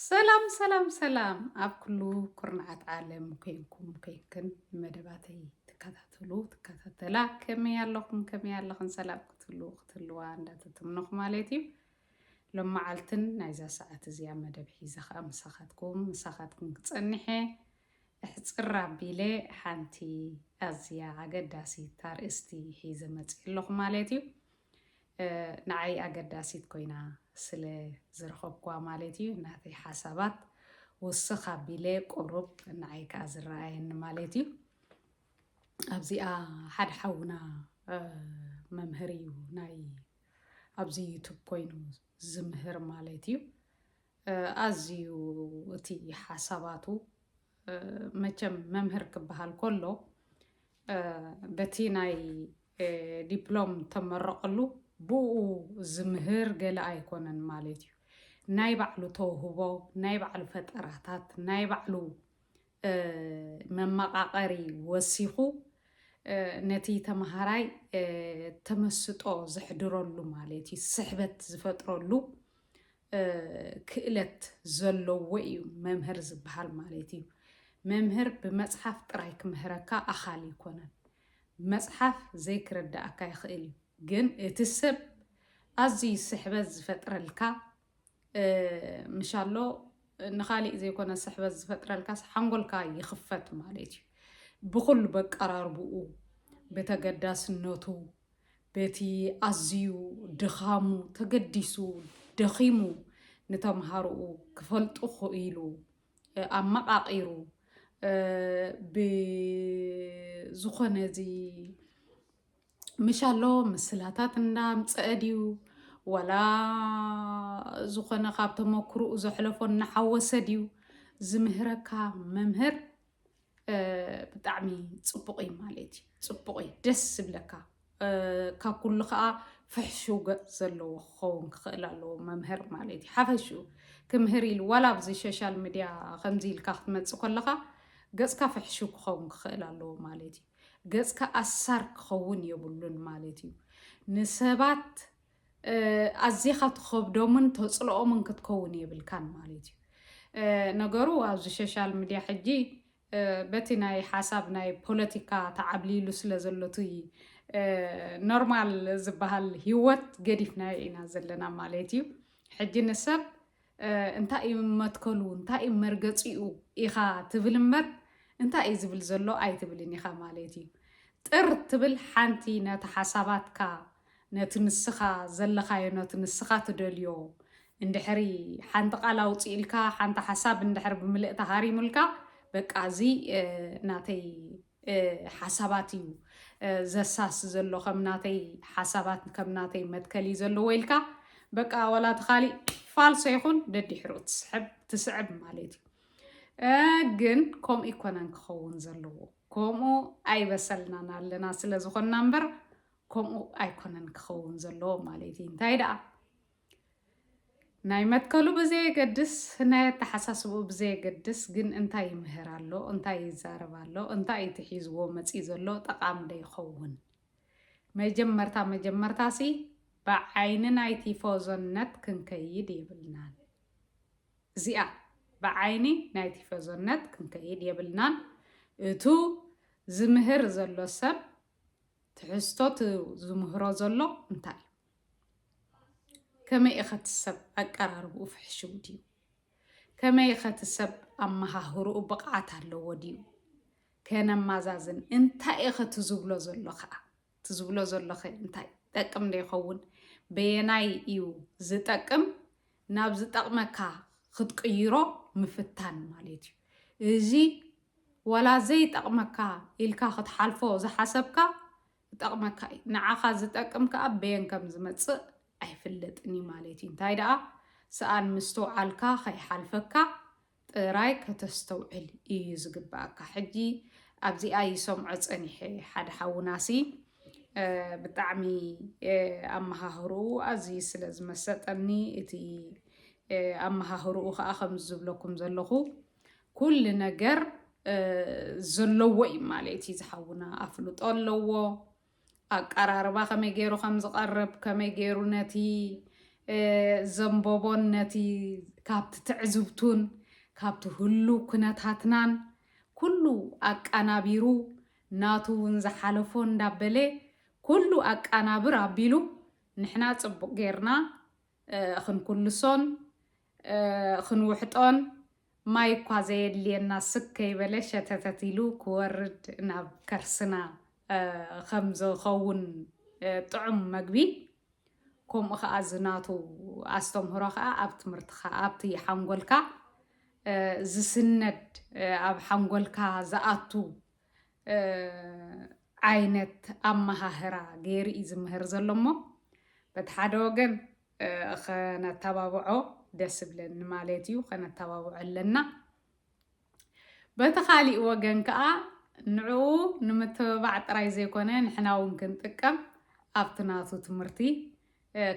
ሰላም ሰላም ሰላም ኣብ ኩሉ ኩርናዓት ዓለም ኮይንኩም ኮይንክን መደባተይ ትከታተሉ ትከታተላ ከመይ ኣለኹም ከመይ ኣለኽን ሰላም ክትህልዉ ክትህልዋ እንዳተተምነኹ ማለት እዩ ሎመዓልትን ናይዛ ሰዓት እዚኣ መደብ ሒዘ ከዓ ምሳኻትኩም ምሳኻትኩም ክፀንሐ እሕፅር ኣቢለ ሓንቲ ኣዝያ ኣገዳሲት ኣርእስቲ ሒዘ መፅእ ኣለኹ ማለት እዩ። ንዓይ ኣገዳሲት ኮይና ስለ ዝረኸብኩዋ ማለት እዩ። ናተይ ሓሳባት ውስኽ ኣቢለ ቁሩብ ንዓይ ከኣ ዝረኣየኒ ማለት እዩ። ኣብዚኣ ሓደ ሓውና መምህር እዩ ናይ ኣብዚ ዩቱብ ኮይኑ ዝምህር ማለት እዩ። ኣዝዩ እቲ ሓሳባቱ መቸም መምህር ክበሃል ከሎ በቲ ናይ ዲፕሎም ተመረቐሉ ብኡ ዝምህር ገለ ኣይኮነን ማለት እዩ። ናይ ባዕሉ ተውህቦ፣ ናይ ባዕሉ ፈጠራታት፣ ናይ ባዕሉ መመቓቐሪ ወሲኹ ነቲ ተምሃራይ ተመስጦ ዘሕድረሉ ማለት እዩ ስሕበት ዝፈጥረሉ ክእለት ዘለዎ እዩ መምህር ዝብሃል ማለት እዩ። መምህር ብመጽሓፍ ጥራይ ክምህረካ ኣኻሊ ኣይኮነን። መጽሓፍ ዘይክርድኣካ ይኽእል እዩ። ግን እቲ ሰብ ኣዝዩ ስሕበት ዝፈጥረልካ ምሻሎ ንኻሊእ ዘይኮነ ስሕበት ዝፈጥረልካስ ሓንጎልካ ይኽፈት ማለት እዩ። ብኹሉ በቀራርብኡ፣ ብተገዳስነቱ፣ በቲ ኣዝዩ ድኻሙ ተገዲሱ ደኺሙ ንተምሃሮኡ ክፈልጡ ክኢሉ ኣመቓቒሩ ብዝኾነ እዚ ምሻሎ ምስላታት እንዳምፀአ ድዩ ዋላ ዝኾነ ካብ ተመክርኡ ዘሕለፎ እናሓወሰ ድዩ ዝምህረካ መምህር ብጣዕሚ ፅቡቕ እዩ ማለት እዩ ፅቡቕ እዩ ደስ ዝብለካ ካብ ኩሉ ከዓ ፍሕሽው ገፅ ዘለዎ ክኸውን ክኽእል ኣለዎ መምህር ማለት እዩ ሓፈሽኡ ክምህር ኢሉ ዋላ ኣብዚ ሶሻል ሚድያ ከምዚ ኢልካ ክትመፅእ ከለኻ ገፅካ ፍሕሽው ክኸውን ክኽእል ኣለዎ ማለት እዩ ገፅካ ኣሳር ክኸውን የብሉን ማለት እዩ ንሰባት ኣዚኻ ትኸብዶምን ተጽልኦምን ክትከውን የብልካን ማለት እዩ ነገሩ ኣብዚ ሸሻል ሚድያ ሕጂ በቲ ናይ ሓሳብ ናይ ፖለቲካ ተዓብሊሉ ስለ ዘሎ እቲ ኖርማል ዝበሃል ሂወት ገዲፍናዮ ኢና ዘለና ማለት እዩ ሕጂ ንሰብ እንታይ እዩ መትከሉ እንታይ እዩ መርገፂኡ ኢኻ ትብል እምበር እንታይ እዩ ዝብል ዘሎ ኣይትብልን ኢኻ ማለት እዩ ጥር ትብል ሓንቲ ነቲ ሓሳባትካ ነቲ ንስኻ ዘለኻዮ ነቲ ንስኻ ትደልዮ እንድሕሪ ሓንቲ ቃል ኣውፅኢልካ ሓንቲ ሓሳብ እንድሕር ብምልእታ ሃሪሙልካ በቃ እዚ ናተይ ሓሳባት እዩ ዘሳስ ዘሎ ከም ናተይ ሓሳባት ከም ናተይ መትከል እዩ ዘለዎ ኢልካ በቃ ወላ ተኻሊእ ፋልሶ ይኹን ደዲሕሩ ትስሕብ ትስዕብ ማለት እዩ ግን ከምኡ ይኮነን ክኸውን ዘለዎ ከምኡ ኣይበሰልናን ኣለና ስለ ዝኾንና እምበር ከምኡ ኣይኮነን ክኸውን ዘለዎ ማለት እዩ እንታይ ደኣ ናይ መትከሉ ብዘየገድስ፣ ናይ ኣተሓሳስባኡ ብዘየገድስ ግን እንታይ ይምህር ኣሎ፣ እንታይ ይዛረብ ኣሎ፣ እንታይ እዩ እቲ ሒዝዎ መፂኡ ዘሎ ጠቓሚ ዶ ይኸውን? መጀመርታ መጀመርታሲ ብዓይኒ ናይ ቲፎዞነት ክንከይድ የብልናን። እዚኣ ብዓይኒ ናይ ቲፎዞነት ክንከይድ የብልናን። እቱ ዝምህር ዘሎ ሰብ ትሕዝቶ ዝምህሮ ዘሎ እንታይ እዩ? ከመይ ኢኸ እቲ ሰብ ኣቀራርብኡ ፍሕሽው ድዩ? ከመይ ኢኸ እቲ ሰብ ኣመሃህርኡ ብቕዓት ኣለዎ ድዩ? ከነማዛዝን እንታይ ኢኸ እቲ ዝብሎ ዘሎ ከዓ እቲ ዝብሎ ዘለኸ እንታይ ጠቅም ዶ ይኸውን? በየናይ እዩ ዝጠቅም? ናብ ዝጠቕመካ ክትቅይሮ ምፍታን ማለት እዩ እዚ ዋላ ዘይጠቕመካ ኢልካ ክትሓልፎ ዝሓሰብካ ክጠቕመካ እዩ። ንዓኻ ዝጠቅም ከኣ በየን ከም ዝመጽእ ኣይፍለጥን እዩ ማለት እዩ። እንታይ ደኣ ሰኣን ምስትውዓልካ ከይሓልፈካ ጥራይ ከተስተውዕል እዩ ዝግብኣካ። ሕጂ ኣብዚኣ ይሰምዖ ጸኒሐ ሓደ ሓውናሲ ብጣዕሚ ኣመሃህርኡ ኣዝዩ ስለ ዝመሰጠኒ እቲ ኣመሃህርኡ ከዓ ከምዚ ዝብለኩም ዘለኹ ኩሉ ነገር ዘለዎ እዩ ማለት እዩ። ዝሓውና ኣፍልጦ ኣለዎ። ኣቀራርባ ከመይ ገይሩ ከም ዝቐርብ ከመይ ገይሩ ነቲ ዘንበቦን ነቲ ካብቲ ትዕዝብቱን ካብቲ ህሉ ኩነታትናን ኩሉ ኣቃናቢሩ ናቱ እውን ዝሓለፎ እንዳበለ ኩሉ ኣቃናብር ኣቢሉ ንሕና ፅቡቅ ገይርና ኽንኩልሶን ኽንውሕጦን ማይ እኳ ዘየድልየና ስክ ከይበለ ሸተተት ኢሉ ክወርድ ናብ ከርስና ኸም ዝኸውን ጥዑም መግቢ ከምኡ ከዓ እዚ ናቱ ኣስተምህሮ ከዓ ኣብ ትምህርትካ ኣብቲ ሓንጎልካ ዝስነድ ኣብ ሓንጎልካ ዝኣቱ ዓይነት ኣመሃህራ ገይሩ እዩ ዝምህር ዘሎ እሞ በቲ ሓደ ወገን ከነተባብዖ ደስ ብለኒ ማለት እዩ ከነተባብዖ ኣለና በቲ ካሊእ ወገን ከዓ ንዕኡ ንምትብባዕ ጥራይ ዘይኮነ ንሕና እውን ክንጥቀም ኣብቲ ናቱ ትምህርቲ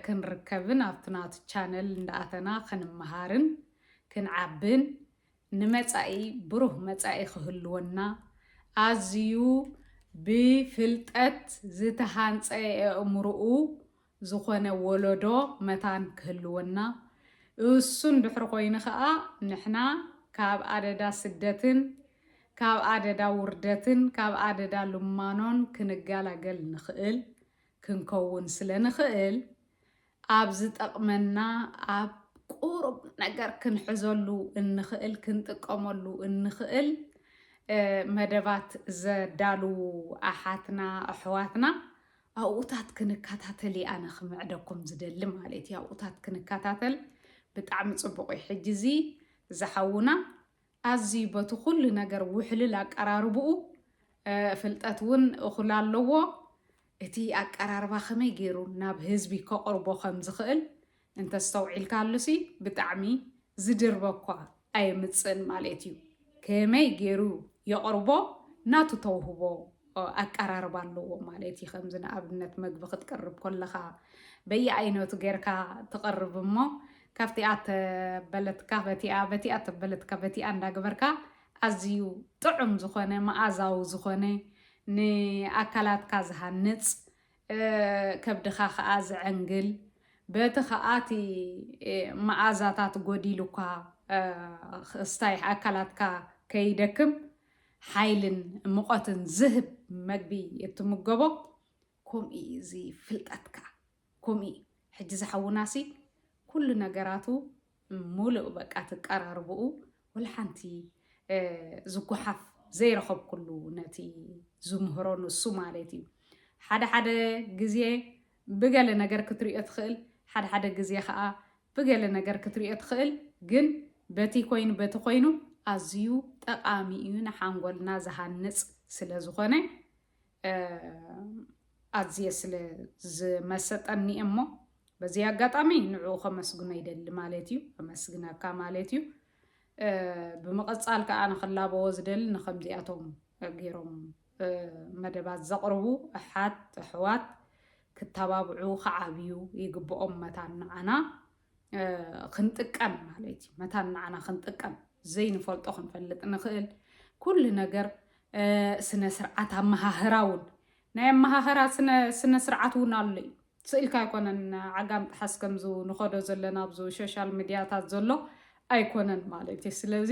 ክንርከብን ኣብቲ ናቱ ቻነል እንዳኣተና ክንመሃርን ክንዓብን ንመጻኢ ብሩህ መጻኢ ክህልወና፣ ኣዝዩ ብፍልጠት ዝተሃንጸ ኣእምሮኡ ዝኾነ ወለዶ መታን ክህልወና፣ እሱን ድሕሪ ኮይኑ ከኣ ንሕና ካብ ኣደዳ ስደትን ካብ ኣደዳ ውርደትን ካብ ኣደዳ ልማኖን ክንገላገል ንኽእል ክንከውን ስለንኽእል ኣብ ዝጠቕመና ኣብ ቁሩብ ነገር ክንሕዘሉ እንኽእል ክንጥቀመሉ እንኽእል መደባት ዘዳልዉ ኣሓትና ኣሕዋትና ኣብኡታት ክንከታተል እየ ኣነ ክምዕደኩም ዝደሊ ማለት እዩ ኣብኡታት ክንከታተል ብጣዕሚ ፅቡቕ እዩ ሕጂ እዚ ዝሓውና ኣዝዩ በቲ ኩሉ ነገር ውሕልል ኣቀራርብኡ ፍልጠት ውን እኹል ኣለዎ እቲ ኣቀራርባ ከመይ ጌሩ ናብ ህዝቢ ከቕርቦ ከም ዝኽእል እንተስተውዒልካሉሲ ብጣዕሚ ዝድርበኳ ኣየምጽእን ማሌት እዩ ከመይ ጌሩ የቕርቦ ናቱ ተውህቦ ኣቀራርባ ኣለዎ ማለት እዩ። ከምዚ ንኣብነት መግቢ ክትቅርብ ኮለኻ በየኣይነቱ ጌርካ ትቕርብ እሞ ካብቲኣ ተበለትካ በቲኣ በቲኣ ተበለትካ በቲኣ እንዳገበርካ ኣዝዩ ጥዑም ዝኾነ መኣዛዊ ዝኾነ ንኣካላትካ ዝሃንፅ ከብድኻ ከዓ ዘዐንግል በቲ ከዓ እቲ መኣዛታት ጎዲሉኳ ስታይ ኣካላትካ ከይደክም ሓይልን ሙቐትን ዝህብ መግቢ እትምገቦ ከምኡ እዩ እዚ ፍልጠት ከዓ ከምኡ እዩ ሕጂ ዝሓውናሲ ኩሉ ነገራቱ ሙሉእ በቃ ትቀራርብኡ ወልሓንቲ ዝጓሓፍ ዘይረኸብኩሉ ነቲ ዝምህሮ ንሱ ማለት እዩ ሓደ ሓደ ግዜ ብገለ ነገር ክትርእዮ ትኽእል ሓድሓደ ግዜ ከኣ ብገለ ነገር ክትርእዮ ትኽእል ግን በቲ ኮይኑ በቲ ኮይኑ ኣዝዩ ጠቃሚ እዩ ንሓንጎልና ዝሃንጽ ስለ ዝኾነ ኣዝየ ስለ ዝመሰጠኒ እሞ በዚ ኣጋጣሚ ንዕኡ ከመስግኖ ይደሊ ማለት እዩ ከመስግነካ ማለት እዩ ብምቕጻል ከዓ ንክላበዎ ዝደሊ ንከምዚኣቶም ገይሮም መደባት ዘቕርቡ ኣሓት ኣሕዋት ክተባብዑ ክዓብዩ ይግብኦም መታን ንዓና ክንጥቀም ማለት እዩ መታን ንዓና ክንጥቀም ዘይንፈልጦ ክንፈልጥ ንኽእል ኩሉ ነገር ስነ ስርዓት ኣመሃህራ እውን ናይ ኣመሃህራ ስነ ስርዓት እውን ኣሎ እዩ ስእልካ ኣይኮነን ዓጋም ጥሓስ ከምዚ ንኸዶ ዘለና ኣብዚ ሶሻል ሚድያታት ዘሎ ኣይኮነን ማለት እዩ ስለዚ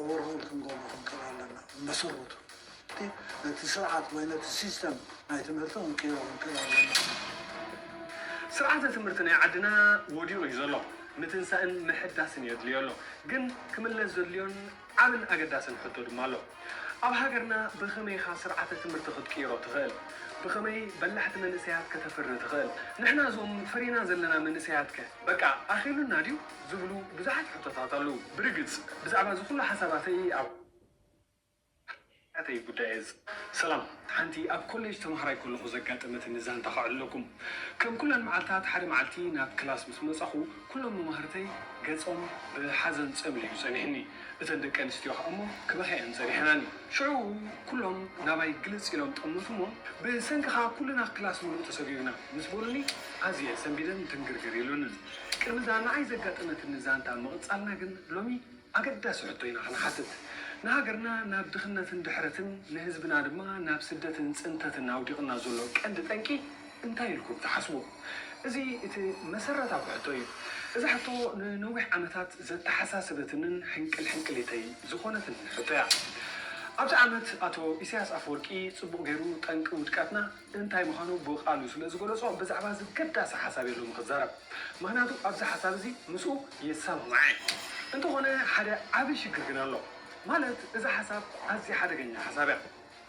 ኦቨርሆል ክንገብሮ ክንክእል ኣለና ብመሰረቱ እቲ ነቲ ስርዓት ወይ ነቲ ሲስተም ናይ ትምህርቲ ክንቅይሮ ክንክእል ኣለና። ስርዓተ ትምህርቲ ናይ ዓድና ወዲቑ እዩ ዘሎ ምትንሳእን ምሕዳስን የድልዮ ኣሎ ግን ክምለስ ዘድልዮን ዓብን ኣገዳስን ሕቶ ድማ ኣሎ ኣብ ሃገርና ብኸመይ ኢኻ ስርዓተ ትምህርቲ ክትቅይሮ ትኽእል ብኸመይ በላሕቲ መንእሰያት ከተፍሪ ትኽእል ንሕና እዞም ፈሪና ዘለና መንእሰያት ከ በቃ ኣኺሉና ድዩ ዝብሉ ብዙሓት ሕቶታት ኣልዉ። ብርግጽ ብዛዕባ እዚ ኩሉ ሓሳባተይ ኣብ ሓያተይ ጉዳይ እየ ዝጽ። ሰላም ሓንቲ ኣብ ኮሌጅ ተማሃራይ ከለኹ ዘጋጠመትኒ ዛንታ ከዕልለኩም። ከም ኩለን መዓልታት ሓደ መዓልቲ ናብ ክላስ ምስ መጻኹ ኩሎም መማህርተይ ገጾም ብሓዘን ጸምሊሉ ጸኒሕኒ። እተን ደቂ ኣንስትዮ ከኣ'ሞ ክበኽያ'የን ጸኒሐናኒ። ሽዑ ኩሎም ናባይ ግልጽ ኢሎም ጠምቱ'ሞ ብሰንክኻ ኩልና ክላስ ምሉእ ተሰጊጉና ምስ በሉኒ ኣዝየ ሰንቢደን ድንግርግር ኢሉንን። ቅድሚ'ዛ ንዓይ ዘጋጠመትኒ ዛንታ ምቕጻልና ግን ሎሚ ኣገዳሲ ሕቶ ኢና ክንሓትት። ንሃገርና ናብ ድኽነትን ድሕረትን ንህዝብና ድማ ናብ ስደትን ጽንተትን ኣውዲቑና ዘሎ ቀንዲ ጠንቂ እንታይ ኢልኩም ትሓስቡ? እዚ እቲ መሰረታዊ ሕቶ እዩ። እዛ ሕቶ ንነዊሕ ዓመታት ዘተሓሳሰበትንን ሕንቅል ሕንቅሊተይ ዝኾነትንን ሕቶ እያ። ኣብቲ ዓመት ኣቶ ኢሳያስ ኣፈወርቂ ጽቡቕ ገይሩ ጠንቂ ውድቀትና እንታይ ምዃኑ ብቓሉ ስለ ዝገለጾ ብዛዕባ እዚ ገዳሲ ሓሳብ እየ ሎሚ ክዛረብ። ምኽንያቱ ኣብዚ ሓሳብ እዚ ምስኡ የሰማማዕ እየ። እንተኾነ ሓደ ዓቢ ሽግር ግን ኣሎ። ማለት እዛ ሓሳብ ኣዝያ ሓደገኛ ሓሳብ እያ።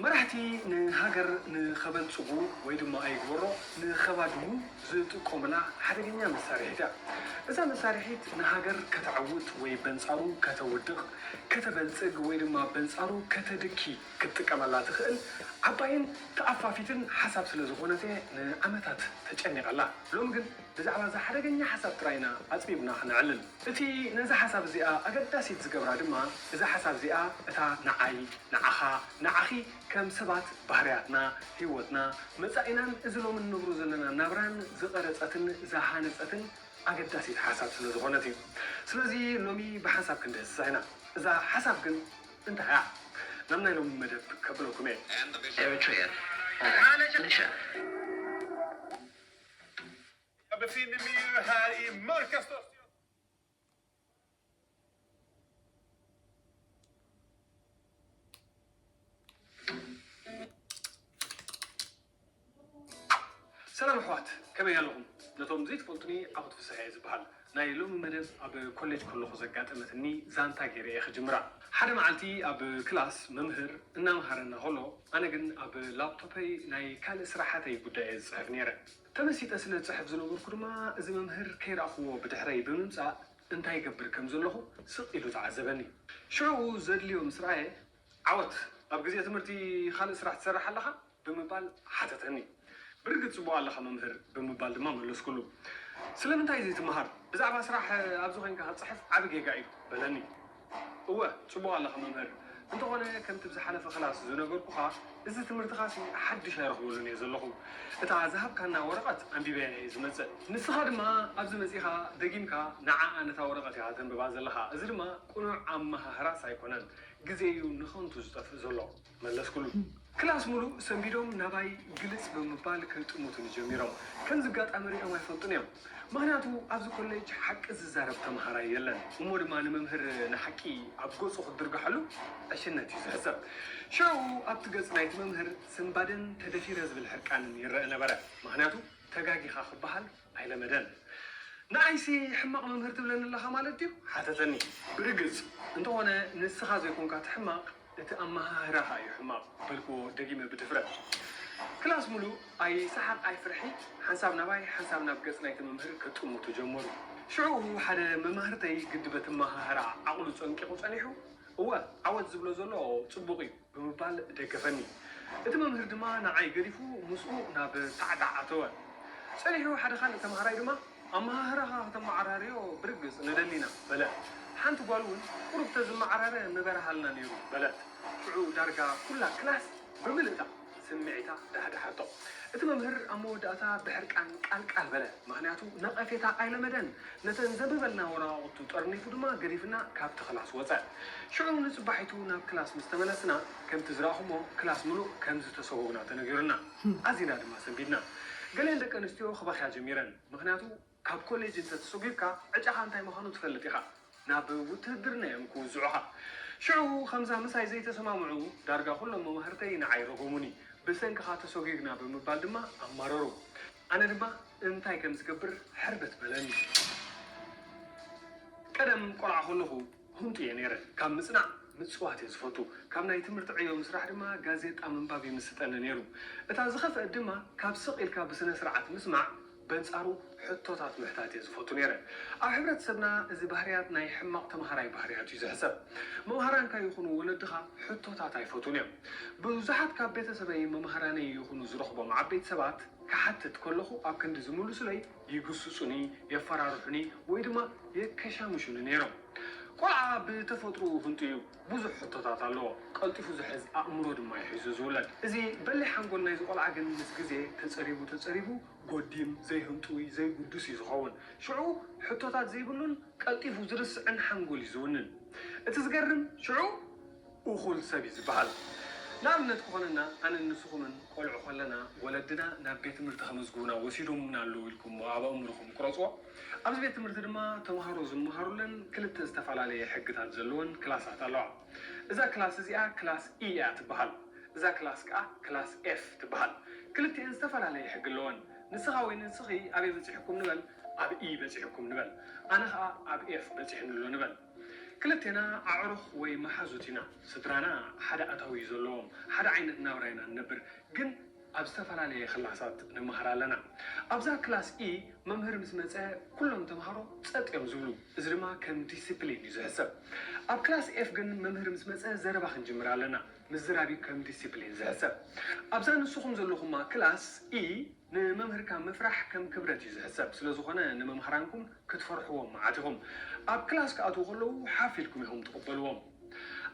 መራሕቲ ንሃገር ንኸበልጽጉ ወይ ድማ ኣይግበሮ ንኸባድሙ ዝጥቀሙላ ሓደገኛ መሳርሒት እያ። እዛ መሳርሒት ንሃገር ከተዐውት ወይ በንጻሩ ከተውድቕ፣ ከተበልጽግ ወይ ድማ በንጻሩ ከተድኪ ክትጥቀመላ ትኽእል ዓባይን ተኣፋፊትን ሓሳብ ስለ ዝኾነት እየ ንዓመታት ተጨኒቐላ። ሎሚ ግን ብዛዕባ እዛ ሓደገኛ ሓሳብ ጥራይ ኢና ኣጽቢብና ክነዕልል። እቲ ነዛ ሓሳብ እዚኣ ኣገዳሲት ዝገብራ ድማ እዛ ሓሳብ እዚኣ እታ ንዓይ፣ ንዓኻ፣ ንዓኺ ከም ሰባት ባህርያትና፣ ህይወትና፣ መጻኢናን እዚ ሎሚ እንነብሮ ዘለና ናብራን ዝቐረጸትን ዝሃነጸትን ኣገዳሲት ሓሳብ ስለ ዝኾነት እዩ። ስለዚ ሎሚ ብሓንሳብ ክንድህስሳ ኢና። እዛ ሓሳብ ግን እንታይ እያ? ናብ ናይ ሎሚ መደብ ከብለኩም እየ። Eritrea Eritrea Jag befinner mig ju här i mörkaste Östergötland. ሰላም ኣሕዋት ከመይ ኣለኹም ነቶም ዘይትፈልጡኒ ዓወት ፍስሐ እየ ዝበሃል ናይ ሎሚ መደብ ኣብ ኮሌጅ ከለኹ ዘጋጠመትኒ ዛንታ ገይረ እየ ክጅምራ ሓደ መዓልቲ ኣብ ክላስ መምህር እናምሃረና ከሎ ኣነ ግን ኣብ ላፕቶፐይ ናይ ካልእ ስራሓተይ ጉዳይ እየ ዝፅሕፍ ነይረ ተመሲጠ ስለ ዝጽሕፍ ዝነበርኩ ድማ እዚ መምህር ከይረኣኹዎ ብድሕረይ ብምምጻእ እንታይ ይገብር ከም ዘለኹ ስቕ ኢሉ ተዓዘበኒ። ሽዑኡ ዘድልዮ ምስ ረኣየ ዓወት ኣብ ግዜ ትምህርቲ ካልእ ስራሕ ትሰርሕ ኣለኻ? ብምባል ሓተተኒ። ብርግጽ ጽቡቕ ኣለኻ መምህር ብምባል ድማ መለስኩሉ። ስለምንታይ ዘይትመሃር? ብዛዕባ ስራሕ ኣብዚ ኮይንካ ክትጽሕፍ ዓቢ ጌጋ እዩ በለኒ። እወ ጽቡቕ ኣለኻ መምህር እንተኾነ ከምቲ ብዝሓለፈ ክላስ ዝነገርኩኻ እዚ ትምህርትኻሲ ሓድሽ ኣይረኽበሉን እየ ዘለኹ እታ ዝሃብካና ወረቐት ኣንቢበያ እየ ዝመጽእ ንስኻ ድማ ኣብዚ መጺኻ ደጊምካ ንዓኣ ነታ ወረቐት ኢኻ ተንብባ ዘለኻ እዚ ድማ ቅኑዕ ኣመሃህራስ ኣይኮነን ግዜ እዩ ንኸንቱ ዝጠፍእ ዘሎ። መለስኩሉ። ክላስ ምሉእ ሰንቢዶም ናባይ ግልጽ ብምባል ክጥምቱኒ ጀሚሮም። ከምዚ ኣጋጣሚ ሪኦም ኣይፈልጡን እዮም። ምኽንያቱ ኣብዚ ኮሌጅ ሓቂ ዝዛረብ ተመሃራይ የለን። እሞ ድማ ንመምህር ንሓቂ ኣብ ገጹ ክትድርግሐሉ ዕሽነት እዩ ዝሕሰብ። ሽዑ ኣብቲ ገጽ ናይቲ መምህር ስንባደን ተደፊረ ዝብል ሕርቃንን ይረእ ነበረ። ምኽንያቱ ተጋጊኻ ክበሃል ኣይለመደን ንኣይሲ ሕማቅ መምህር ትብለኒ ኣለኻ ማለት ድዩ ሓተተኒ ብርግጽ እንተኾነ ንስኻ ዘይኮንካ እቲ ሕማቅ እቲ ኣመሃህራኻ እዩ ሕማቅ በልክዎ ደጊመ ብድፍረት ክላስ ምሉእ ኣይ ሰሓቅ ኣይ ፍርሒ ሓንሳብ ናባይ ሓንሳብ ናብ ገጽ ናይቲ መምህር ክጥምቱ ጀመሩ ሽዑኡ ሓደ መማህርተይ ግዲ በቲ ኣመሃህራኣ ዓቅሉ ጸንቂቁ ጸኒሑ እወ ዓወት ዝብሎ ዘሎ ጽቡቅ እዩ ብምባል ደገፈኒ። እቲ መምህር ድማ ንዓይ ገዲፉ ምስኡ ናብ ሳዕጋዕ ኣተወ። ጸኒሑ ሓደ ካልእ ተማሃራይ ድማ፣ ኣመሃህራኻ ከተመዓራርዮ ብርግጽ ንደሊ ኢና፣ በለ። ሓንቲ ጓል እውን፣ ቁሩብ ተዝመዓራረ ምበርሃልና ነይሩ፣ በለት። ሽዑ ዳርጋ ኩላ ክላስ ብምልእታ፣ ስምዒታ ዳህደሓቶ። እቲ መምህር ኣብ መወዳእታ ብሕርቃን ቃል ቃል በለ፣ ምኽንያቱ ነቐፌታ ኣይለመደን። ነተን ዘንብበልና ወረቓቕቱ ጠርኒፉ ድማ ገዲፍና ካብቲ ክላስ ወጸ። ሽዑ ንጽባሒቱ ናብ ክላስ ምስ ተመለስና፣ ከምቲ ዝረኣኹሞ ክላስ ምሉእ ከም ዝተሰወኡና ተነጊሩና። ኣዚና ድማ ሰንቢድና። ገሊኣን ደቀንስትዮ ክበኽያ ጀሚረን፣ ምኽንያቱ ካብ ኮሌጅ እንተ ተሶጊርካ ዕጫኻ እንታይ ምዃኑ ትፈልጥ ኢኻ። ናብ ውትህድርና እዮም ክውዝዑኻ። ሽዑ ከምዛ ምሳይ ዘይተሰማምዑ ዳርጋ ኩሎም መማህርተይ ንዓይ ረጎሙኒ። ብሰንክኻ ተሶጊግና ብምባል ድማ ኣማረሩ። ኣነ ድማ እንታይ ከም ዝገብር ሕርበት በለኒ። ቀደም ቆልዓ ከለኹ። ህንጡ እየ ነይረ። ካብ ምጽናዕ ምጽዋት እየ ዝፈቱ። ካብ ናይ ትምህርቲ ዕዮ ምስራሕ ድማ ጋዜጣ ምንባብ ይምስጠኒ ነይሩ። እታ ዝኸፍአት ድማ ካብ ስቕ ኢልካ ብስነ-ስርዓት ምስማዕ በንጻሩ ሕቶታት ምሕታት እየ ዝፈቱ ነይረ። ኣብ ሕብረተሰብና እዚ ባህርያት ናይ ሕማቕ ተመሃራይ ባህርያት እዩ ዝሕሰብ። መምሃራንካ ይኹኑ ወለድኻ ሕቶታት ኣይፈትዉን እዮም። ብብዙሓት ካብ ቤተሰበይን መማህራነይን ይኹኑ ዝረኽቦም ዓበይቲ ሰባት ክሓትት ከለኹ ኣብ ክንዲ ዝምሉሱለይ፣ ይግስጹኒ፣ የፈራርሑኒ ወይ ድማ የከሻምሹኒ ነይሮም። ቆልዓ ብተፈጥሮኡ ህንጡይ እዩ። ብዙሕ ሕቶታት ኣለዎ። ቀልጢፉ ዝሕዝ ኣእምሮ ድማ እዩ ሒዙ ዝውለድ። እዚ በሊሕ ሓንጎል ናይዚ ቆልዓ ግን ምስ ግዜ ተጸሪቡ ተጸሪቡ ጎዲም፣ ዘይህንጡይ፣ ዘይግዱስ እዩ ዝኸውን። ሽዑ ሕቶታት ዘይብሉን ቀልጢፉ ዝርስዕን ሓንጎል እዩ ዝውንን። እቲ ዝገርም ሽዑ እኹል ሰብ እዩ ዝበሃል ንኣብነት ክኾነና ኣነን ንስኹምን ቆልዑ ከለና ወለድና ናብ ቤት ትምህርቲ ከመዝግቡና ወሲዶሙና ኣለዉ ኢልኩምሞ ኣብ ኣእምሮኹም ቅረጽዎ። ኣብዚ ቤት ትምህርቲ ድማ ተማሃሮ ዝመሃሩለን ክልተ ዝተፋላለየ ሕግታት ዘለወን ክላሳት ኣለዋ። እዛ ክላስ እዚኣ ክላስ E እያ ትበሃል። እዛ ክላስ ከኣ ክላስ F ትበሃል። ክልቲኤን ዝተፋላለየ ሕጊ ኣለወን። ንስኻ ወይ ንስኺ ኣበይ በጺሕኩም ንበል ኣብ E በጺሕኩም ንበል ኣነ ከኣ ኣብ F በጺሕኒ ኣሎ ንበል። ክልቴና ኣዕሩኽ ወይ መሓዙት ኢና። ስድራና ሓደ ኣታዊ እዩ ዘለዎም። ሓደ ዓይነት ናብራ ኢና ንነብር፣ ግን ኣብ ዝተፈላለየ ክላሳት ንመሃር ኣለና። ኣብዛ ክላስ E መምህር ምስ መጸ ኩሎም ተማሃሮ ጸጥ እዮም ዝብሉ፣ እዚ ድማ ከም ዲሲፕሊን እዩ ዝሕሰብ። ኣብ ክላስ F ግን መምህር ምስ መጸ ዘረባ ክንጅምር ኣለና፣ ምዝራብ እዩ ከም ዲሲፕሊን ዝሕሰብ። ኣብዛ ንስኹም ዘለኹማ ክላስ E፣ ንመምህርካ ምፍራሕ ከም ክብረት እዩ ዝሕሰብ ስለ ዝኾነ ንመምሃራንኩም ክትፈርሕዎም መዓት ኢኹም። ኣብ ክላስ ክኣትዉ ከለዉ ሓፍ ኢልኩም ኢኹም ትቕበልዎም።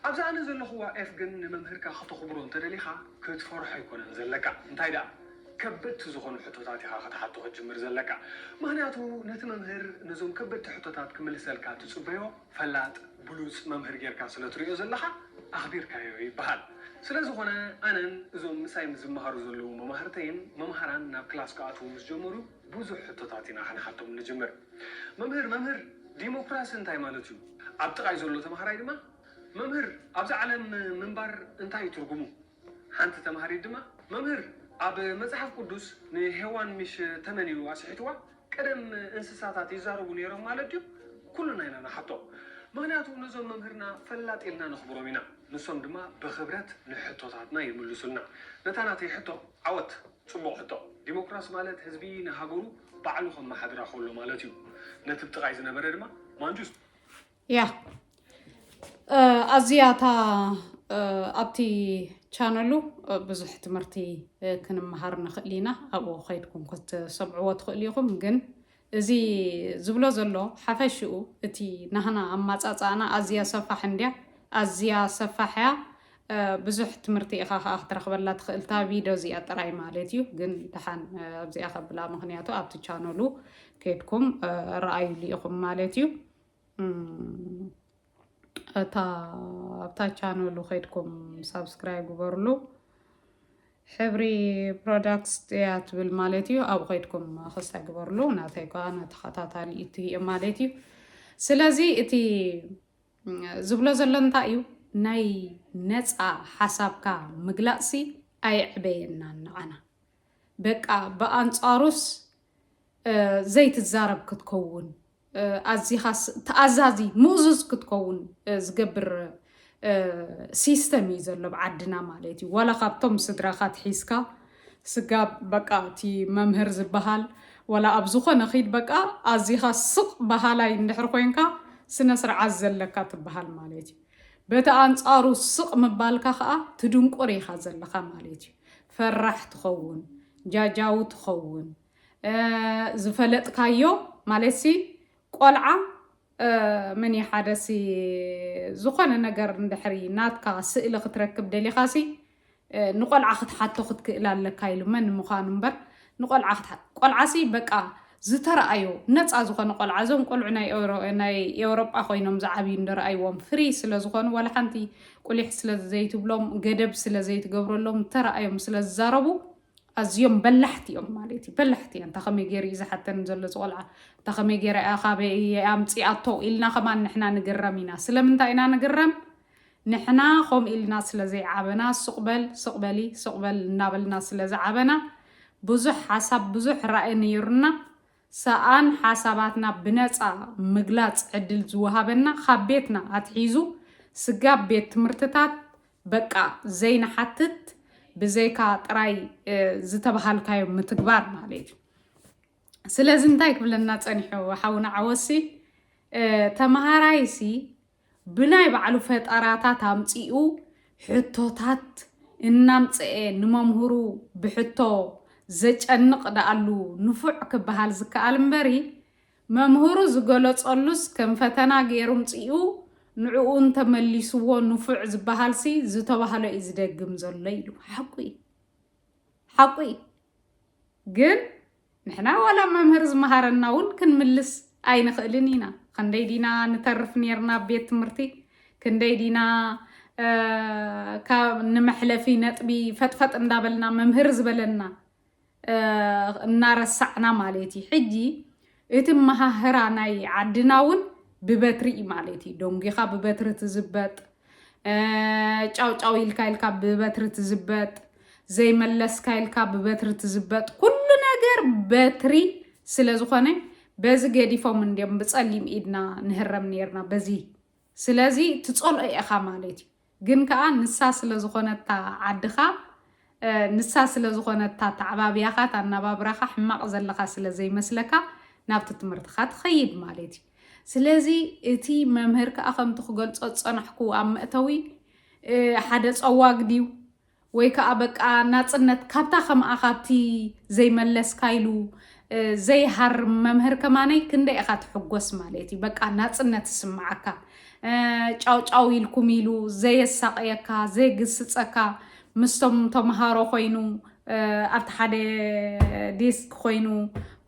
ኣብዛ ኣነ ዘለኹዋ ኤፍ ግን ንመምህርካ ከተኹብሮ እንተደሊኻ ክትፈርሖ ኣይኮነን ዘለካ እንታይ ደኣ ከበድቲ ዝኾኑ ሕቶታት ኢኻ ክትሓቶ ክትጅምር ዘለካ። ምኽንያቱ ነቲ መምህር ነዞም ከበድቲ ሕቶታት ክምልሰልካ ትጽበዮ። ፈላጥ ብሉጽ መምህር ጌርካ ስለ ትርእዮ ዘለኻ ኣኽቢርካዮ ይበሃል። ስለ ዝኾነ ኣነን እዞም ምሳይ ዝመሃሩ ዘለዉ መማህርተይን መምሃራን ናብ ክላስ ክኣትዉ ምስ ጀመሩ ብዙሕ ሕቶታት ኢና ክንሓቶም ንጅምር። መምህር መምህር ዲሞክራሲ እንታይ ማለት እዩ? ኣብ ጥቓይ ዘሎ ተማሃራይ ድማ መምህር ኣብዛ ዓለም ምንባር እንታይ እዩ ትርጉሙ? ሓንቲ ተምሃሪት ድማ፣ መምህር፣ ኣብ መጽሓፍ ቅዱስ ንሄዋን ምሽ ተመን ኢዩ ኣስሒትዋ? ቀደም እንስሳታት ይዛረቡ ነይሮም ማለት ድዩ? ኩልና ኢና ንሓቶ። ምኽንያቱ ነዞም መምህርና ፈላጥ ኢልና ነኽብሮም ኢና። ንሶም ድማ ብኽብረት ንሕቶታትና ይምልሱልና። ነታ ናተይ ሕቶ፣ ዓወት! ጽቡቕ ሕቶ። ዲሞክራሲ ማለት ህዝቢ ንሃገሩ ባዕሉ ከመሓድራ ከሎ ማለት ኢዩ። ነቲ ብ ጥቓይ ዝነበረ ድማ፣ ማንጁስ! ያ ኣዚያ እታ ኣብቲ ቻነሉ ብዙሕ ትምህርቲ ክንመሃር ንኽእል ኢና ኣብኡ ከይድኩም ክትሰምዕዎ ትኽእሉ ኢኹም ግን እዚ ዝብሎ ዘሎ ሓፈሽኡ እቲ ናህና ኣማፃፃእና ኣዝያ ሰፋሕ እንድያ ኣዝያ ሰፋሕ እያ ብዙሕ ትምህርቲ ኢኻ ከዓ ክትረኽበላ ትኽእልታ ቪድዮ እዚኣ ጥራይ ማለት እዩ ግን ድሓን ኣብዚኣ ከብላ ምክንያቱ ኣብቲ ቻነሉ ከድኩም ረኣዩሉ ኢኹም ማለት እዩ እታ ኣብታ ቻነሉ ከድኩም ሳብስክራይብ ግበርሉ ሕብሪ ፕሮዳክትስ ጥያ ትብል ማለት እዩ ኣብኡ ከድኩም ክሳ ግበርሉ ናተይ ከዓ ተኸታታሊ እቲ እየ ማለት እዩ ስለዚ እቲ ዝብሎ ዘሎ እንታይ እዩ ናይ ነፃ ሓሳብካ ምግላፅሲ ኣየዕበየና ንዓና በቃ ብኣንፃሩስ ዘይትዛረብ ክትከውን ኣዚኻስ ተኣዛዚ ምእዙዝ ክትከውን ዝገብር ሲስተም እዩ ዘሎ ኣብ ዓድና ማለት እዩ ዋላ ካብቶም ስድራኻ ትሒዝካ ስጋብ በቃ እቲ መምህር ዝበሃል ዋላ ኣብ ዝኾነ ኺድ በቃ ኣዚኻ ስቕ በሃላይ እንድሕር ኮንካ ስነ ስርዓት ዘለካ ትበሃል ማለት እዩ በቲ ኣንጻሩ ስቕ ምባልካ ከዓ ትድንቁር ኢኻ ዘለኻ ማለት እዩ ፈራሕ ትኸውን ጃጃዊ ትኸውን ዝፈለጥካዮ ማለትሲ ቆልዓ ምን ሓደሲ ዝኾነ ነገር እንድሕሪ ናትካ ስእሊ ክትረክብ ደሊኻሲ ንቆልዓ ክትሓቶ ክትክእል ኣለካ ኢሉ መን ምዃኑ እምበር ንቆልዓ ክትሓ ቆልዓሲ በቃ ዝተረኣዮ ነፃ ዝኾነ ቆልዓ እዞም ቆልዑ ናይ ኤውሮጳ ኮይኖም ዝዓብዩ እንደረኣይዎም ፍሪ ስለ ዝኾኑ ዋላ ሓንቲ ቁሊሕ ስለ ዘይትብሎም ገደብ ስለ ዘይትገብረሎም ተረኣዮም ስለ ዝዛረቡ ኣዝዮም በላሕቲ እዮም ማለት እዩ በላሕቲ እንታ ከመይ ገይሩ እዩ ዝሓተን ዘሎ ዝቆልዓ እንታ ከመይ ገይራ እያ ካበይ እየ ኣምፂኣቶ ኢልና ከማን ንሕና ንግረም ኢና ስለምንታይ ኢና ንግረም ንሕና ከምኡ ኢልና ስለ ዘይዓበና ስቕበል ስቕበሊ ስቕበል እናበልና ስለ ዝዓበና ብዙሕ ሓሳብ ብዙሕ ራእይ ነይሩና ሰኣን ሓሳባትና ብነጻ ምግላጽ ዕድል ዝወሃበና ካብ ቤትና ኣትሒዙ ስጋብ ቤት ትምህርትታት በቃ ዘይንሓትት ብዘይካ ጥራይ ዝተበሃልካዮ ምትግባር ማለት እዩ። ስለዚ እንታይ ክብለና ጸኒሑ ሓውና ዓወሲ ተመሃራይሲ ብናይ ባዕሉ ፈጠራታት ኣምጺኡ ሕቶታት እናምጸኤ ንመምህሩ ብሕቶ ዘጨንቕ ደኣሉ ንፉዕ ክበሃል ዝከኣል እምበሪ፣ መምህሩ ዝገለጸሉስ ከም ፈተና ገይሩ ኣምጺኡ ንዕኡ እንተመሊስዎ ንፉዕ ዝበሃልሲ ዝተባህሎ'ዩ ዝደግም ዘሎ ኢሉ። ሓቁ'ዩ። ሓቁ'ዩ። ግን ንሕና ዋላ መምህር ዝመሃረና ውን ክንምልስ ኣይንኽእልን ኢና ኽንደይ ዲና ንተርፍ ኔርና ኣብ ቤት ትምህርቲ ክንደይ ዲና ካብ ንመሕለፊ ነጥቢ ፈጥፈጥ እንዳበልና መምህር ዝበለና እናረሳዕና ማለት እዩ ሕጂ እቲ ኣመሃህራ ናይ ዓድና ውን ብበትሪ እዩ ማለት እዩ። ደንጒኻ ብበትሪ ትዝበጥ፣ ጫውጫው ኢልካ ኢልካ ብበትሪ ትዝበጥ፣ ዘይመለስካ ኢልካ ብበትሪ ትዝበጥ፣ ኩሉ ነገር በትሪ ስለ ዝኾነ በዚ ገዲፎም እንዲዮም ብጸሊም ኢድና ንህረም ኔርና በዚ ስለዚ ትጸልኦ ኢኻ ማለት እዩ። ግን ከኣ ንሳ ስለ ዝኾነታ ዓድኻ ንሳ ስለ ዝኾነታ ኣተዓባብያኻ ኣናባብራኻ ሕማቕ ዘለኻ ስለ ዘይመስለካ ናብቲ ትምህርትኻ ትኸይድ ማለት እዩ። ስለዚ እቲ መምህር ከኣ ከምቲ ክገልጾ ዝጸናሕኩ ኣብ መእተዊ ሓደ ጸዋግ ድዩ ወይ ከኣ በቃ ናጽነት ካብታ ከምኣ ካብቲ ዘይመለስካ ኢሉ ዘይሃርም መምህር ከማነይ ክንደይ ኢኻ ትሕጎስ ማለት እዩ በቃ ናጽነት ይስምዓካ ጫው ጫው ኢልኩም ኢሉ ዘየሳቕየካ ዘይግስጸካ ምስቶም ተምሃሮ ኮይኑ ኣብቲ ሓደ ዴስክ ኮይኑ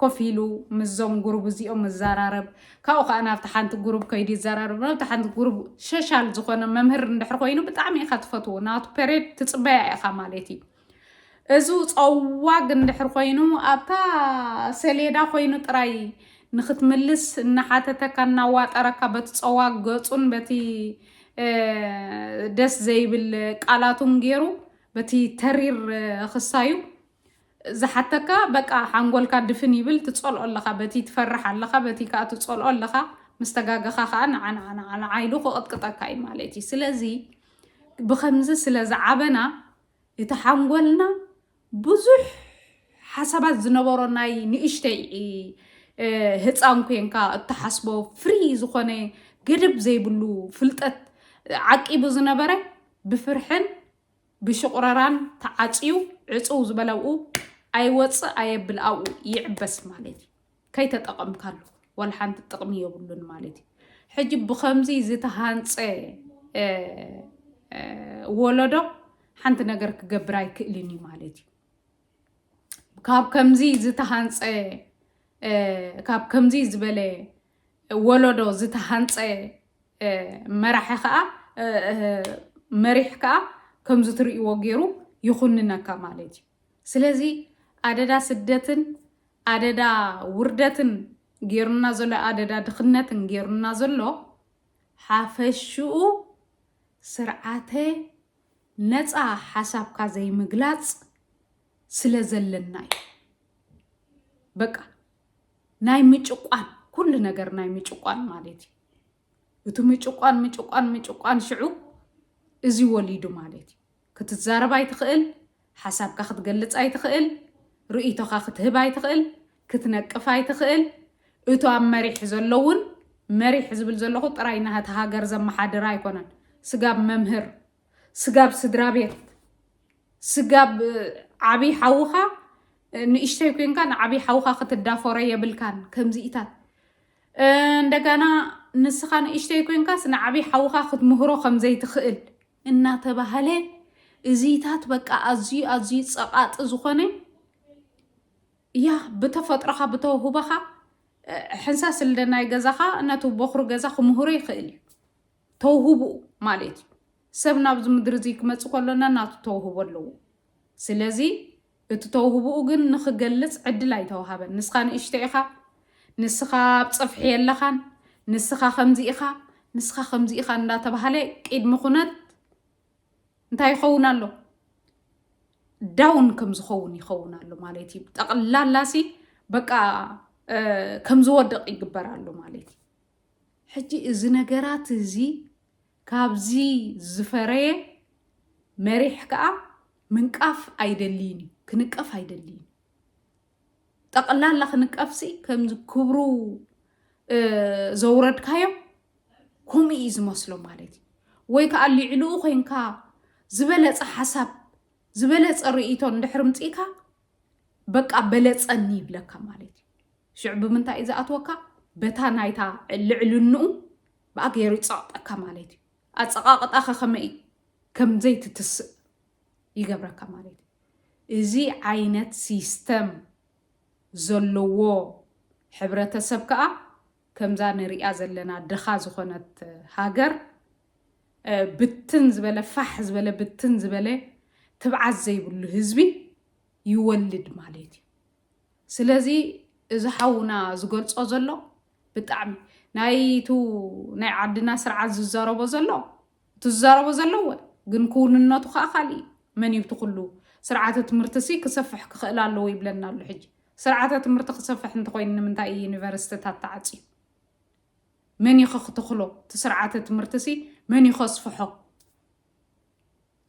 ኮፍ ኢሉ ምስዞም ጉሩብ እዚኦም ምዘራረብ ካብኡ ከኣ ናብቲ ሓንቲ ጉሩብ ከይዱ ይዘራረብ ናብቲ ሓንቲ ጉሩብ ሸሻል ዝኾነ መምህር እንድሕር ኮይኑ ብጣዕሚ ኢኻ ትፈትዎ ናቱ ፔሬድ ትጽበያ ኢኻ ማለት እዩ እዙ ጸዋግ እንድሕር ኮይኑ ኣብታ ሰሌዳ ኮይኑ ጥራይ ንክትምልስ እናሓተተካ እናዋጠረካ በቲ ጸዋግ ገጹን በቲ ደስ ዘይብል ቃላቱን ገይሩ በቲ ተሪር ክሳዩ ዝሓተካ በቃ ሓንጎልካ ድፍን ይብል ትጸልኦ ኣለኻ በቲ ትፈርሕ ኣለኻ በቲ ከኣ ትጸልኦ ኣለኻ ምስ ተጋገኻ ከኣ ንዓንዓንዓንዓ ኢሉ ክቕጥቅጠካ እዩ ማለት እዩ ስለዚ ብከምዚ ስለ ዝዓበና እቲ ሓንጎልና ብዙሕ ሓሳባት ዝነበሮ ናይ ንእሽተይ ህፃን ኮንካ እትሓስቦ ፍሪ ዝኾነ ገደብ ዘይብሉ ፍልጠት ዓቂቡ ዝነበረ ብፍርሕን ብሽቑረራን ተዓፅዩ ዕፅው ዝበለ ኣብኡ ኣይወፅእ ኣየብል ኣብኡ ይዕበስ ማለት እዩ ከይተጠቐምካሉ ወላ ሓንቲ ጥቕሚ የብሉን ማለት እዩ ሕጂ ብከምዚ ዝተሃንፀ ወለዶ ሓንቲ ነገር ክገብር ኣይክእልን እዩ ማለት እዩ ካብ ከምዚ ዝተሃንፀ ካብ ከምዚ ዝበለ ወለዶ ዝተሃንፀ መራሒ ከዓ መሪሕ ከዓ ከምዚ ትርእይዎ ገይሩ ይኹንነካ ማለት እዩ ስለዚ ኣደዳ ስደትን ኣደዳ ውርደትን ገይሩና ዘሎ ኣደዳ ድኽነትን ገይሩና ዘሎ ሓፈሽኡ ስርዓተ ነፃ ሓሳብካ ዘይምግላፅ ስለ ዘለና እዩ በቃ ናይ ምጭቋን ኩሉ ነገር ናይ ምጭቋን ማለት እዩ እቲ ምጭቋን ምጭቋን ምጭቋን ሽዑ እዚ ወሊዱ ማለት እዩ ክትዛረብ ኣይትኽእል ሓሳብካ ክትገልፅ ኣይትኽእል ርእይቶኻ ክትህብ ኣይትኽእል ክትነቅፍ ኣይትኽእል እቶ ኣብ መሪሕ ዘሎ እውን መሪሕ ዝብል ዘለኹ ጥራይ ናህቲ ሃገር ዘመሓድር ኣይኮነን ስጋብ መምህር ስጋብ ስድራ ቤት ስጋብ ዓብይ ሓውኻ ንእሽተይ ኮንካ ንዓብይ ሓውኻ ክትዳፈሮ የብልካን ከምዚኢታት እንደገና ንስኻ ንእሽተይ ኮንካስ ንዓብይ ሓውኻ ክትምህሮ ከምዘይትኽእል እናተባህለ እዚታት በቃ ኣዝዩ ኣዝዩ ፀቓጢ ዝኾነ ያ ብተፈጥሮኻ ብተውህቦኻ ሕንሳስ ልደ ናይ ገዛኻ ነቲ ቦኽሩ ገዛ ክምህሮ ይኽእል እዩ ተውህቦ ማሌት እዩ ሰብ ናብዚ ምድሪ እዚ ክመፅ ከሎ ነናቱ ተውህቦ ኣለዎ ስለዚ እቲ ተውህቦኡ ግን ንክገልፅ ዕድል ኣይተውሃበን ንስኻ ንእሽተ ኢኻ ንስኻ ኣብ ፀፍሒ የለኻን ንስኻ ከምዚ ኢኻ ንስኻ ከምዚ ኢኻ እንዳተባሃለ ቅድሚ ኩነት እንታይ ይኸውን ኣሎ ዳውን ከም ዝኸውን ይኸውን ኣሎ ማለት እዩ ጠቕላላሲ በቃ ከም ዝወደቕ ይግበር ኣሎ ማለት እዩ ሕጂ እዚ ነገራት እዚ ካብዚ ዝፈረየ መሪሕ ከኣ ምንቃፍ ኣይደልይን እዩ ክንቀፍ ኣይደልይን ጠቕላላ ክንቀፍሲ ከምዚ ክብሩ ዘውረድካዮም ከምኡ እዩ ዝመስሎ ማለት እዩ ወይ ከዓ ልዕልኡ ኮንካ ዝበለፀ ሓሳብ ዝበለፀ ርእይቶ እንድሕር ምፅእካ በቃ በለፀኒ ይብለካ ማለት እዩ ሽዑ ብምንታይ እዩ ዝኣትወካ በታ ናይታ ልዕልንኡ ብኣ ገይሩ ይፀቕጠካ ማለት እዩ ኣፀቓቕጣኸ ከመይ ከም ዘይትትስእ ይገብረካ ማለት እዩ እዚ ዓይነት ሲስተም ዘለዎ ሕብረተሰብ ከዓ ከምዛ ንሪኣ ዘለና ድኻ ዝኾነት ሃገር ብትን ዝበለ ፋሕ ዝበለ ብትን ዝበለ ትብዓት ዘይብሉ ህዝቢ ይወልድ ማለት እዩ ስለዚ እዚ ሓውና ዝገልጾ ዘሎ ብጣዕሚ ናይቱ ናይ ዓድና ስርዓት ዝዛረቦ ዘሎ እቲ ዝዛረቦ ዘለዎ ግን ክውንነቱ ከዓ ካልእ እዩ መን እዩ ትኩሉ ስርዓተ ትምህርቲ ሲ ክሰፍሕ ክኽእል ኣለዎ ይብለና ኣሎ ሕጂ ስርዓተ ትምህርቲ ክሰፍሕ እንተኮይኑ ንምንታይ እዩ ዩኒቨርሲቲታት ተዓፅዩ መን እዩኸ ክትኽሎ? እቲ ስርዓተ ትምህርቲሲ መን እዩ ከስፍሖ?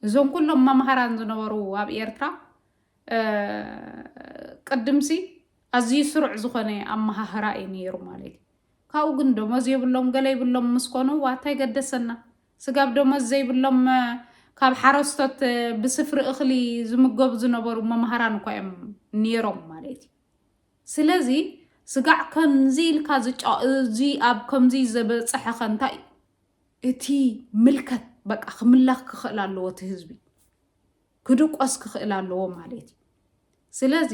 እዞም ኩሎም መምሃራን ዝነበሩ ኣብ ኤርትራ ቅድምሲ ኣዝዩ ስሩዕ ዝኾነ ኣመሃህራ እዩ ነይሩ ማለት እዩ ካብኡ ግን ደሞዝ የብሎም ገለ ይብሎም ምስ ኮኑ ዋታይ ገደሰና ስጋብ ደሞዝ ዘይብሎም ካብ ሓረስቶት ብስፍሪ እኽሊ ዝምገቡ ዝነበሩ መምሃራን እኳ እዮም ነይሮም ማለት እዩ ስለዚ ስጋዕ ከምዚ ኢልካ ዝጫወ እዚ ኣብ ከምዚ ዘበጸሐኸ እንታይ እዩ እቲ ምልከት በቃ ክምላኽ ክኽእል ኣለዎ እቲ ህዝቢ ክድቆስ ክኽእል ኣለዎ ማለት እዩ ስለዚ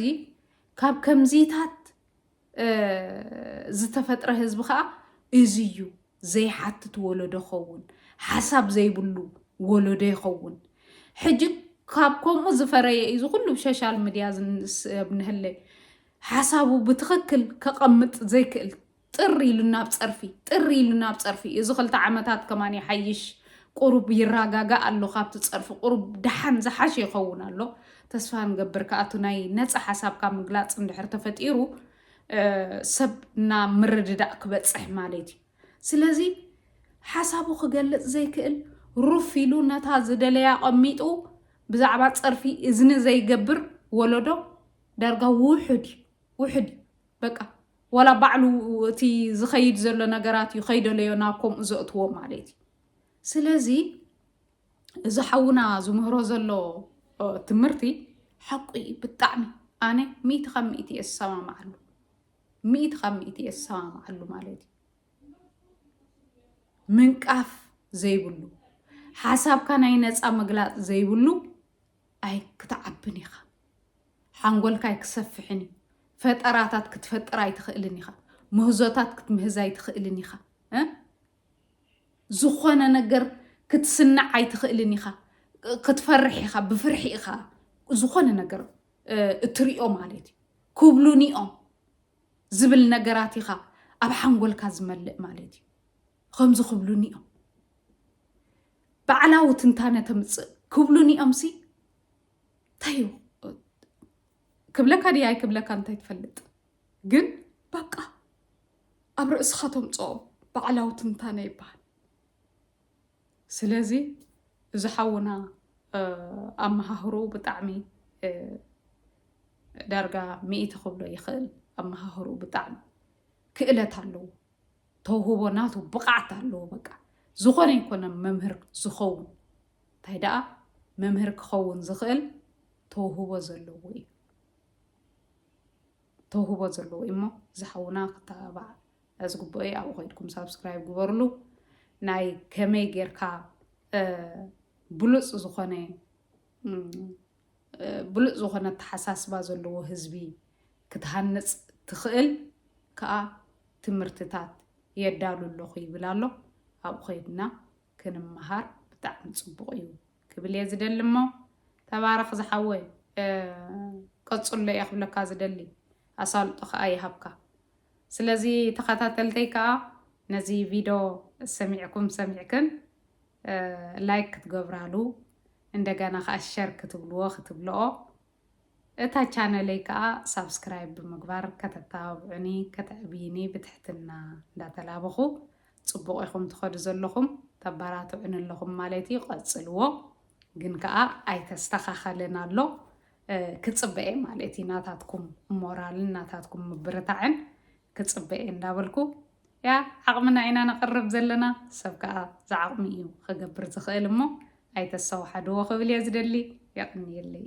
ካብ ከምዚታት ዝተፈጥረ ህዝቢ ከዓ እዚ እዩ ዘይሓትት ወለዶ ይኸውን፣ ሓሳብ ዘይብሉ ወለዶ ይኸውን። ሕጂ ካብ ከምኡ ዝፈረየ እዩ ዝኩሉ ሶሻል ሚድያ ዝንስብ ንህለ ሓሳቡ ብትኽክል ከቐምጥ ዘይክእል ጥሪ ኢሉ ናብ ፀርፊ ጥሪ ኢሉ ናብ ፀርፊ እዚ ክልተ ዓመታት ከማን ይሓይሽ ቁሩብ ይረጋጋእ ኣሎ ካብቲ ፀርፊ ቁሩብ ደሓን ዝሓሸ ይኸውን ኣሎ ተስፋ ንገብር ከኣቱ ናይ ነፃ ሓሳብካ ምግላፅ እንድሕር ተፈጢሩ ሰብ ናብ ምርድዳእ ክበጽሕ ማለት እዩ ስለዚ ሓሳቡ ክገልጽ ዘይክእል ሩፍ ኢሉ ነታ ዝደለያ ቐሚጡ ብዛዕባ ጸርፊ እዝኒ ዘይገብር ወለዶ ዳርጋ ውሑድ እዩ ውሑድ እዩ በቃ ወላ ባዕሉ እቲ ዝኸይድ ዘሎ ነገራት እዩ ከይደለዮ ናብ ከምኡ ዘእትዎ ማለት እዩ ስለዚ እዚ ሓውና ዝምህሮ ዘሎ ትምህርቲ ሓቁ እዩ ብጣዕሚ ኣነ ሚእቲ ካብ ሚእቲ እየ ዝሰማማዓሉ ሚእቲ ካብ ሚእቲ እየ ዝሰማማዓሉ ማለት እዩ ምንቃፍ ዘይብሉ ሓሳብካ ናይ ነፃ ምግላፅ ዘይብሉ ኣይ ክትዓብን ኢኻ ሓንጎልካ ኣይክሰፍሕን እዩ ፈጠራታት ክትፈጥር ኣይትኽእልን ኢኻ ምህዞታት ክትምህዝ ኣይትኽእልን ኢኻ ዝኾነ ነገር ክትስንዕ ኣይትኽእልን ኢኻ። ክትፈርሕ ኢኻ፣ ብፍርሒ ኢኻ ዝኾነ ነገር እትሪኦ ማለት እዩ። ክብሉኒ እዮም ዝብል ነገራት ኢኻ ኣብ ሓንጎልካ ዝመልእ ማለት እዩ። ከምዚ ክብሉኒ እዮም ባዕላዊ ትንታነ ተምፅእ ክብሉኒ እዮምሲ እንታይ እዩ ክብለካ ድያ ኣይክብለካ እንታይ ትፈልጥ ግን በቃ ኣብ ርእስኻ ተምጽኦ ባዕላዊ ትንታነ ይበሃል። ስለዚ እዚ ሓውና ኣመሃህርኡ ብጣዕሚ ዳርጋ ሚእቲ ክብሎ ይኽእል። ኣመሃህርኡ ብጣዕሚ ክእለት ኣለዎ፣ ተውህቦ ናቱ ብቕዓት ኣለዎ። በቃ ዝኾነ ይኮነ መምህር ዝኸውን እንታይ ደኣ መምህር ክኸውን ዝኽእል ተውህቦ ዘለዎ እዩ። ተውህቦ ዘለዎ እዩ እሞ እዚ ሓውና ክተባባዕ ዝግብኦ እዩ ኣብኡ ከይድኩም ሳብስክራይብ ግበርሉ ናይ ከመይ ጌርካ ብሉፅ ዝኾነ ብሉፅ ዝኾነ ኣተሓሳስባ ዘለዎ ህዝቢ ክትሃንፅ ትኽእል ከዓ ትምህርትታት የዳሉ ኣለኹ ይብል ኣሎ ኣብኡ ከይድና ክንመሃር ብጣዕሚ ፅቡቕ እዩ ክብል እየ ዝደሊ እሞ ተባረኽ ዝሓወይ ቀፅሎ እየ ክብለካ ዝደሊ ኣሳልጦ ከዓ ይሃብካ ስለዚ ተኸታተልተይ ከዓ ነዚ ቪድዮ ሰሚዕኩም ሰሚዕክን ላይክ ክትገብራሉ እንደገና ከዓ ሸር ክትብልዎ ክትብልኦ እታ ቻነለይ ከኣ ሳብስክራይብ ብምግባር ከተተባብዑኒ ከተዕብይኒ ብትሕትና እንዳተላበኹ ጽቡቕ ኢኹም ትኸዱ ዘለኹም ተባራትዑኒ ኣለኹም ማለት እዩ ቀጽልዎ ግን ከኣ ኣይተስተኻኸልን ኣሎ ክጽበኤ ማለት እዩ ናታትኩም ሞራልን ናታትኩም ምብርታዕን ክጽበ እየ እንዳበልኩ እያ ዓቕምና ኢና ነቕርብ ዘለና ሰብ ከኣ ዝዓቕሙ እዩ ክገብር ዝኽእል እሞ ኣይተሰዋሓድዎ ክብል እየ ዝደሊ የቕንየለይ።